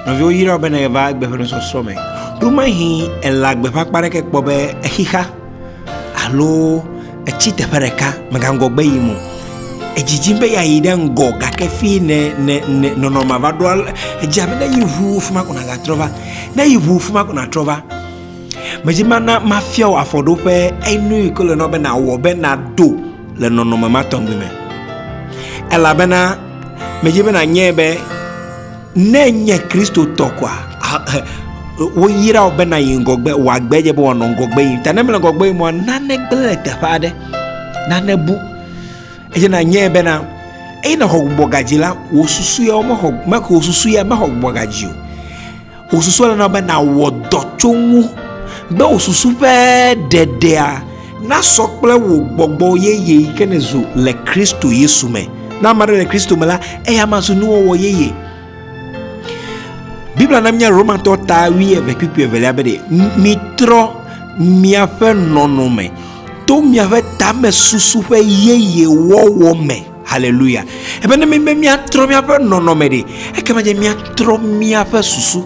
Nɔviwo yra wò be nèva agbe ƒe nusɔsrɔ̃ me. Ɖo mahi èle agbe ƒe akpa aɖeke kpɔ be exixa alo etsi teƒe ɖeka, mègaŋgɔ gbe yim o. Edzidzim be yeayi ɖe ŋgɔ gake fie nè nè nè nɔnɔmea va ɖo ale edze abe ne eyi ŋu fi ma ko nàgatrɔ va. Ne eyi ŋu fi ma ko nàtrɔ va. Medi be mana mafia wò afɔɖoƒe enu yi ke wole na wò be nàwɔ be nàdo. le nɔnɔme ma tɔgbi me. Elabena medzi be nànyae be ne ènye Kristotɔ koa, woyra wò be nàyi ŋgɔgbe, wò agbe dze be wòanɔ ŋgɔgbe yim. Ta ne mele ŋgɔgbe yim oa, nane gblẽ le teƒe aɖe, nane bu eye nànyae bena eye nàxɔ gbɔgbɔ gadzi la, wò susu ya mexɔ, wò susu ya mexɔ gbɔgbɔ gadzi o. Wò susua le na be nàwɔ dɔ tso ŋu be wò susu ƒe ɖeɖea nasɔ kple wò gbɔgbɔ yeye yi ke nèzu le Kristo Yesu me. Ne ame aɖe le Kristo me la, eya ma zu nuwɔwɔ yeye. Biblia na míenya Romatɔ ta wui eve kpukpui evelia be ɖe mitrɔ miaƒe nɔnɔme to miaƒe tamesusu ƒe yeye wɔwɔ me. Haleluya! Ebe ne míbe míatrɔ míaƒe nɔnɔme ɖe, ekema dze míatrɔ míaƒe susu.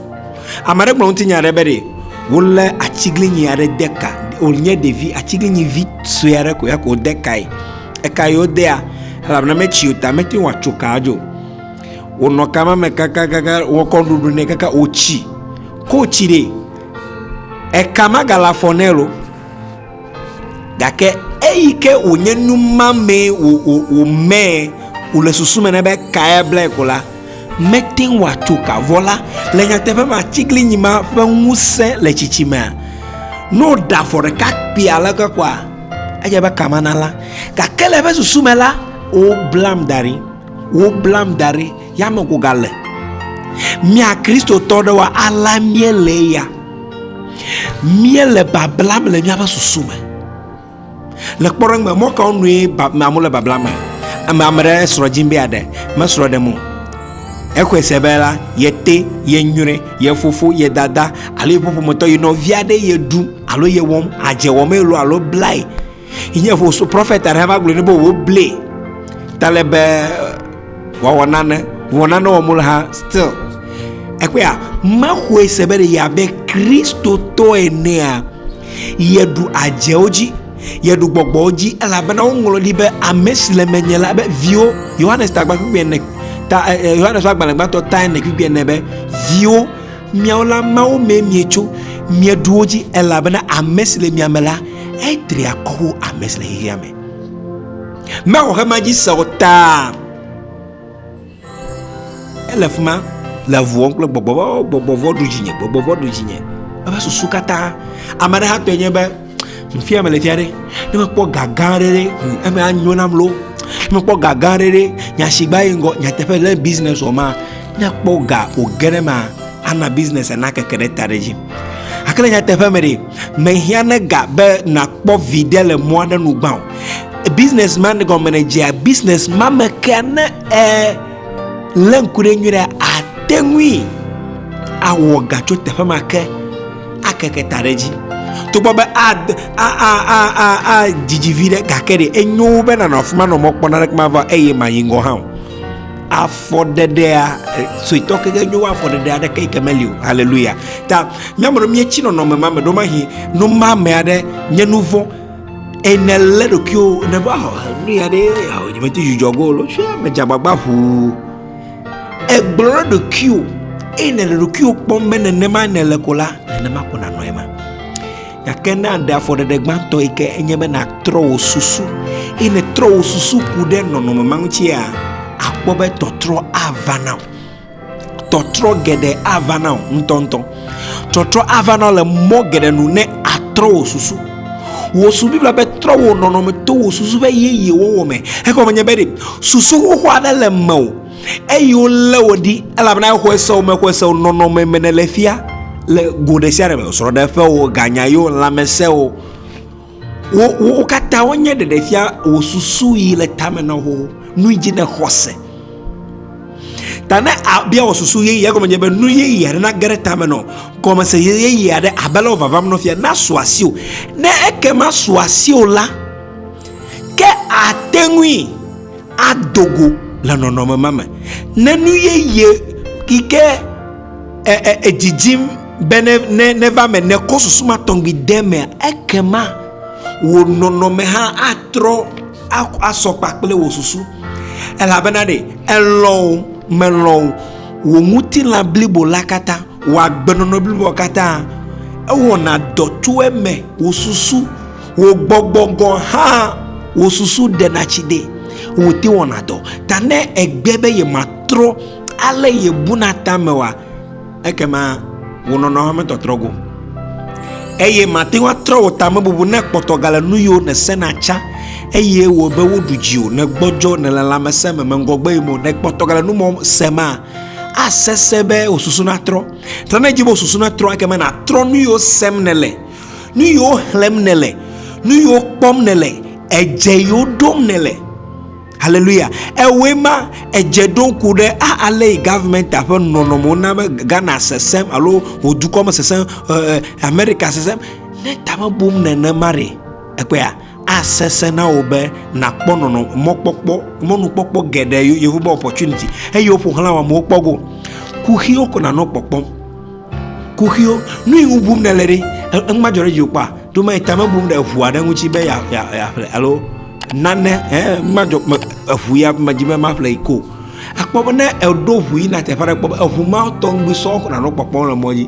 Ame aɖe gblɔ ŋutinya aɖe be ɖe wolé atsiglinyi aɖe de ka, wònye ɖevi atsiglinyi vi sue aɖe ko ya ko wode kae. Eka yi wodea, elabena metsi o ta mete ŋu atso kaa dzo. Wònɔ ka ma me kakakaka, wokɔ nuɖuɖu nɛ kaka wòtsi. Ko wòtsi ɖe, eka magale afɔ nɛ lo. gake eyi ke wònye nu ma mee wòmee wòle susu me na be kae blae ko la mete ŋu atso ka vɔ la le nyateƒe me atiglinyi ma ƒe ŋusẽ le tsitsi mea ne wòɖe afɔ ɖeka kpee ale ke koa edze be ka mana la gake le eƒe susu me la woblam da ɖi woblam da ɖi Yameŋu gale. Mía Kristotɔ ɖewoa, alea míelee ya. Míele bablam le míaƒe susu me. Le kpɔɖeŋu me, mɔ kawo nue amewo le bablam me? Ame ame ɖe srɔ̃ dim be yeaɖe, mesrɔ̃ ɖem o. Exɔe se be la, yete, yenyrɔe, ye fofo, ye dada alo yeƒe ƒometɔ, ye nɔvi aɖee yeɖum alo yewɔm, adze wɔmee loo alo blae. Nye vo so prophet aɖe va gblɔ ne be wo ble ta le be wɔwɔ nane wɔ nane wɔ mo le ha still ekpea me xoe se be ya be kristo to enea ye du adze wo dzi ye du gbɔgbɔ wo dzi ela be na wo ŋlɔ li be ame si le menye la be viwo yohanes tagba kpekpe ne ta eh, eh, yohanes wa gbalẽ gbãtɔ ta ne kpekpe ne be viwo miawo la mawo me mietso mieɖuwo dzi elabena ame si le mia me la Etri akɔ wo ame si le xexea me. Mexɔ xema dzi se o ta. Ele fi ma le vuɔm kple gbɔgbɔ vɔ, gbɔgbɔ vɔ ɖu dzinye, gbɔgbɔ vɔ ɖu dzinye. Eƒe susu katã. Ame aɖe hatɔe nye be, fia mele fia ɖe, ne mekpɔ ga gã aɖe ɖe, hm, eme anyo nam loo. Ne mekpɔ ga gã aɖe ɖe, nyasigba yi ŋgɔ, nyateƒe le business wɔ ma, ne kpɔ ga wòge ɖe ma, ana business ana keke ɖe ta ɖe dzi gake le nyateƒe me ɖe mehiã ne ga be nakpɔ viɖe le mɔ aɖe nu gbã o business man gɔme ne dzea business ma me kea ne e lé ŋku ɖe nyuie ɖe ate ŋui awɔ ga tso teƒe ma ke akeke ta ɖe dzi togbɔ be adidi vi ɖe gake ɖe enyo be nanɔ afi ma nɔ mɔ kpɔna ɖe kuma va eye mayi ŋgɔ hã o afɔɖeɖea suetɔ keke nyo afɔɖeɖe aɖeke yike meli o haleluya ta míame ɖo míetsi nɔnɔme ma me ɖo mahi nu ma me aɖe nye nu vɔ̃ ene lé ɖokuiwo ne va nu ya ɖe ao nyemete dzudzɔ go lo tsia medze agbagba ʋuu egblɔ ɖe ɖokuiwo eye ne le ɖokuiwo kpɔm be nenema nele ko la nenema ko nanɔ ema Gake ne aɖe afɔɖeɖe gbãtɔ yi ke enye be nàtrɔ wò susu eye nètrɔ wò susu ku ɖe nɔnɔme ma ŋutia, àkpɔ be tɔtrɔ ava na wò. Tɔtrɔ geɖe ava na wò ŋutɔŋutɔ. Tɔtrɔ ava na wò le mɔ geɖe nu ne àtrɔ wò susu. Wò su Biblia be trɔ wò nɔnɔme to wò susu ƒe yeye wɔwɔ me. Egɔme nye be ɖe susu xoxo aɖe le mewò eye wolé wò ɖi elabena exɔe se wò me xɔe se wò nɔnɔme me nèle fia le go ɖe sia ɖe me srɔ̃ɖeƒewo ganyayo lãmesẽwo wo wo katã wonye ɖeɖefia wò susu yi le tame na wo nu yi dzi nèxɔ se ta ne abia wɔ susu yeye egɔme nye be nu yeye aɖe nage ɖe tame nɔ gɔmese yeye aɖe abe le wovavam nɔ fia nasu asi o ne ekema su asi o la ke ate ŋui ado go le nɔnɔme ma me. Ne nu yeye yi ke edzidzim be neva eme nekɔ susu ma tɔgbi de emea, ekema wò nɔnɔme hã atrɔ asɔ kpakple wò susu. Elabena ɖe elɔ̃ o, melɔ̃ o, wò ŋutilã blibo la katã, wò agbenɔnɔ blibo la katã, ewɔna dɔ tso eme, wò susu, Wò gbɔgbɔ gɔ̃ hã wò susu ɖena tsi de ŋuti wɔna dɔ ta. Ne ègbe be yematrɔ ale yebuna tame oa, ekema wò nɔnɔ hã metrɔtrɔ go eye màte ŋu atrɔ wò tamebubu ne kpɔtɔ gale nuyiwo nèsena tsã eye wòe be woɖu dziwò nègbɔdzɔ nèle lãmesẽ me meŋgɔgbe yim o. Ne kpɔtɔ gale nu mɔ se ma, asesẽ be wò susu natrɔ. Ta ne èdi be wò susu natrɔ ekema nàtrɔ nuyiwo sem nèle. nu yiwo xlẽm nèle nu yiwo kpɔm nèle edze yiwo ɖom nèle haleluya ewɔe ma edze ɖo ŋku ɖe ale yi gavmenta ƒe nɔnɔmewo na be ghana sesẽm alo wò dukɔ me sesẽm amerika sesẽm ne ta mebum nenema ɖe ekpɔa asesẽ na wò be nàkpɔ nɔnɔ mɔkpɔkpɔ mɔnukpɔkpɔ geɖe yehowa opportunity eye woƒo xlã wɔamewo kpɔ go kuxiwo ko nanɔ kpɔkpɔm Kuxiwo, nu yi ŋu bum nèle ɖe, enu madzɔ ɖe dziwò kpɔa? Ɖo mele ta me bum ɖe eŋua ɖe ŋuti be yeaƒle alo nane hẽ madzɔ eŋu ya medzi be maƒle yi ko. Akpɔ be ne èɖo ŋu yina teƒe aɖe kpɔ be eŋu ma tɔ ŋugbi sɔ nànɔ kpɔkpɔm le mɔ dzi.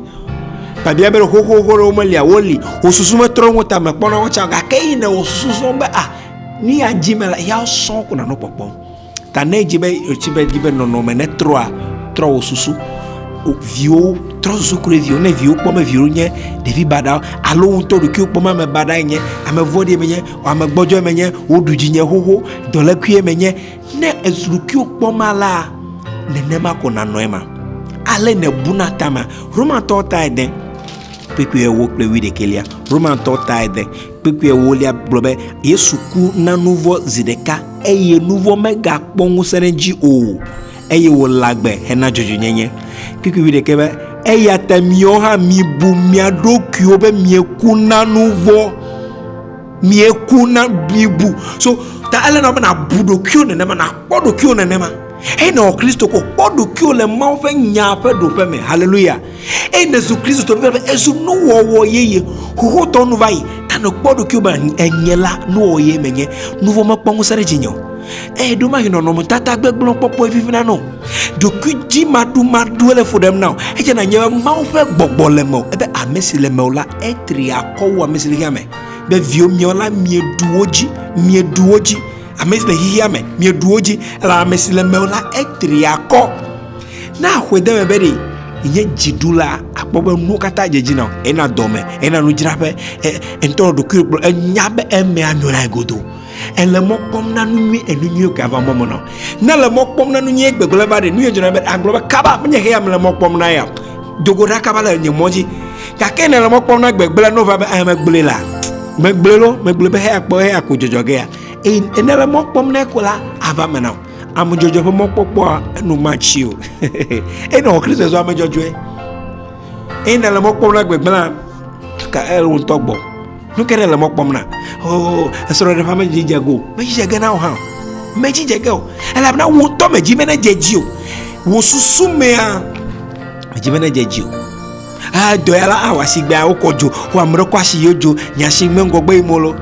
Biabia be xoxoxo ɖewo melia, woli, wò susu metrɔ ŋu tame kpɔna wo tsã gake eyi nèwɔ susu srɔ̃ be a nu ya dim mele ya sɔ ko nànɔ kpɔkpɔm. Ta ne edzi be etsi be edzi be nɔnɔme ne trɔa trɔ wò susu. O viwo trɔ susu ku ɖe viwo ne viwo kpɔ be viwo nye ɖevi baɖa alo wo ŋutɔ ɖokuiwo kpɔ be ame baɖae nye ame vɔ̃ɖi menye o ame gbɔdzɔe menye woɖu dzinye xoxo dɔlekuie menye ne ezu ɖokuiwo kpɔm alea nenema ko nanɔ ema. Ale nèbuna tame. Romatɔwo tae de kpukpuiwo kple wuiɖekɛlia. Romatɔwo tae de. Kpukpui ewolia gblɔ be, Yesu ku na nu vɔ̃ zi ɖeka, eye nu vɔ̃ megakpɔ ŋusẽ ɖe edzi o, eye wòle agbe hena dzɔdzɔenyenye. Kpukpui wuiɖekɛ be, Eya ta miwo hã mibu mia ɖokuiwo be mieku na nu vɔ̃. Mieku na, mibu. So, ta ele na wò be nàbu ɖokuiwò nenema, nàkpɔ ɖokuiwò nenema. Eye ne èwɔ Kristo ko, kpɔ ɖokuiwò le Mawu ƒe Nyaa ƒe ɖoƒe me. Haleluya! eye nèzu Kristotɔ bibla be ezu nuwɔwɔ yeye. Xoxotɔ nu va yi. Ta nèkpɔ ɖokuiwò be enye la, nuwɔwɔ yeye menye. Nuvɔ̃ mekpɔ ŋusẽ ɖe dzinye o. Eye ɖo mahe nɔnɔmetata gbegblẽ kpɔkpɔe vivina nɔ. Ɖokuidzimaɖumaɖue le fu ɖem na wò. Edze nanye be Mawu ƒe gbɔgbɔ le mewò, ebe ame si le mewò la, etri akɔ wu ame si le xexeame. Be viwo miawo la, mieɖu wo dzi, mieɖu wo dzi. Ame si le xexeame, mieɖu wo dzi, elabe ame si le mewò la, etri akɔ. Ne aƒe de eme be ɖe nye dzi ɖu la akpɔ be nuwo katã dze dzi na ena dɔme ena nudzraƒe ŋutɔ ɖokui kplɔ enya be eme anɔ na godo ele mɔ kpɔm na nu nyui enu nyuiwo gava mɔ me nɔ ne le mɔ kpɔm na nu nyui gbegblẽ va ɖe nu yɛ dzɔna be agblɔ be kaba menye heya mele mɔ kpɔm na ya do go ɖa kaba le nye mɔ dzi gake ne le mɔ kpɔm na gbegblẽ no va be ame gblẽ la megblẽ lo megblẽ be heya kpɔ heya ko dzɔdzɔ ge ya eye ne le mɔ kpɔm na ko la ava me na o Amudzɔdzɔ ƒe mɔkpɔkpɔa eno matsi o. Eye nɔ Kristo zɔ ame dzɔdzɔe. Eye nele mɔ kpɔm na gbegblẽ ka ele ŋutɔ gbɔ. Nu ke nele mɔ kpɔm na. Oo esrɔ̃ɖeƒe ame dzi dze go. Medzi dze ge na o hã. Medzi dze ge o. Elabena wò ŋutɔ medzi be ne dze dzi o. Wò susu mea medzi be ne dze dzi o. Ah dɔ ya la awɔ asi gbea wokɔ dzo. Wò ame ɖe kɔ asi yio dzo. Nya si me ŋgɔgbe yi molo.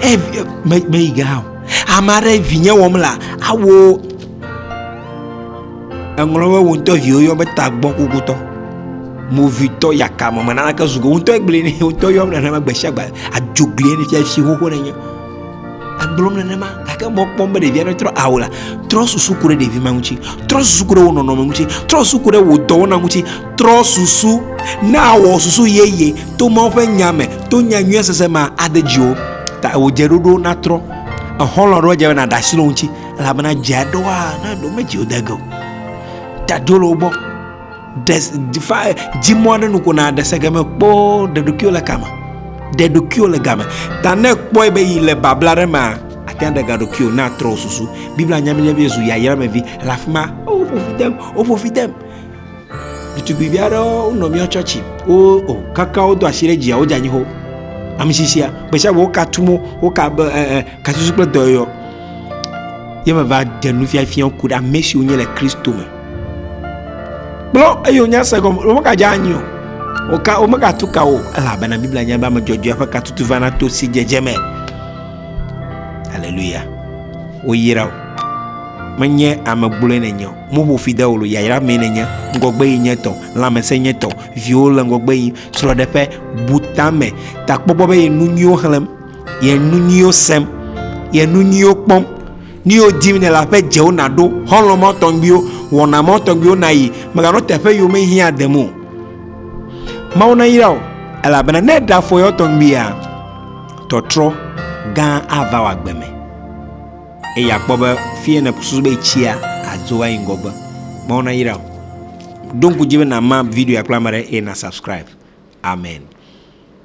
Eh me me yi ge hã o. Ame aɖe vinye wɔm la awo eŋlɔ be wo ŋutɔ viwo yɔ be tagbɔ kokotɔ movitɔ yakame me nanake zugo ŋutɔ gblẽ ne ŋutɔ yɔm nenema gbe sia gbe adzoglie ne fia si xoxo nenye egblɔm nenema gake mɔ kpɔm be ɖevia netrɔ awo la trɔ susu ku ɖe ɖevi ma ŋuti trɔ susu ku ɖe wo nɔnɔme ŋuti trɔ susu ku ɖe wo dɔwɔna ŋuti Trɔ susu. Ne àwɔ susu yeye to Mawu ƒe Nya me, to nya nyuia sese mea, ade dziwò. Ta wò dzeɖoɖowo natrɔ. Exɔlɔ̃ aɖewo dze be nàɖe asi le wo ŋuti elabena dze aɖewoa, na ɖewo medzi wo de ge o. Ta do le wo gbɔ. Ɖe fa dzi mɔ aɖe nu ko nàɖe se game kpoo ɖe ɖokuiwò le kame. Ɖe ɖokuiwò le game. Ta ne èkpɔe be yi le babla aɖe mea, àte ŋu aɖe ga ɖokuiwò ne àtrɔ wò susu. Biblia nya mí be Yesu yi ayra me vi le afi ma. Woƒo fi dem, woƒo fi dem. ɖetugbuivi aɖewo wonɔ mía tsɔtsi wo o kaka wodo asi ɖe dzia wodze anyi ho amisisia gbesiagbe woka tumo woka be ɛ ɛ kasusu kple dɔyɔyɔ ye meva ɖe nufiafiawo ku ɖe ame siwo nye le kristo me kplɔ eye wonya se gɔme womegadze anyi o woka womegatu ka o elabena biblia nya be ame dzɔdzɔe ƒe katutu vana to si dzedze me haleluya woyra o menye ame gblɔe nenye o Moƒo fi de wò lo, yayra mee nènye, ŋgɔgbe yi nye tɔ, lãmesẽ nye tɔ, viwo le ŋgɔgbe yi, srɔ̃ɖeƒe, bu tame, takpɔkpɔ be ye nu nyuiwo xlẽm, ye nu nyuiwo sem, ye nu nyuiwo kpɔm. Nu yiwo dim nèle aƒe dzewo nàɖo, xɔlɔ̃ mawo tɔgbiwo, wɔna mawo tɔgbiwo nàyi, mèganɔ teƒe yiwo mehiã dem o. Mawu nayra wò, elabena ne èɖe afɔ yewo tɔgbia, tɔtrɔ gã ava wò agbe me. eye akpɔ be fie ne susu be tsia adzo ayi ŋgɔgbe mawo nayra o ɖo ŋku dzi be nama video kple ame ɖe eye na subscribe amen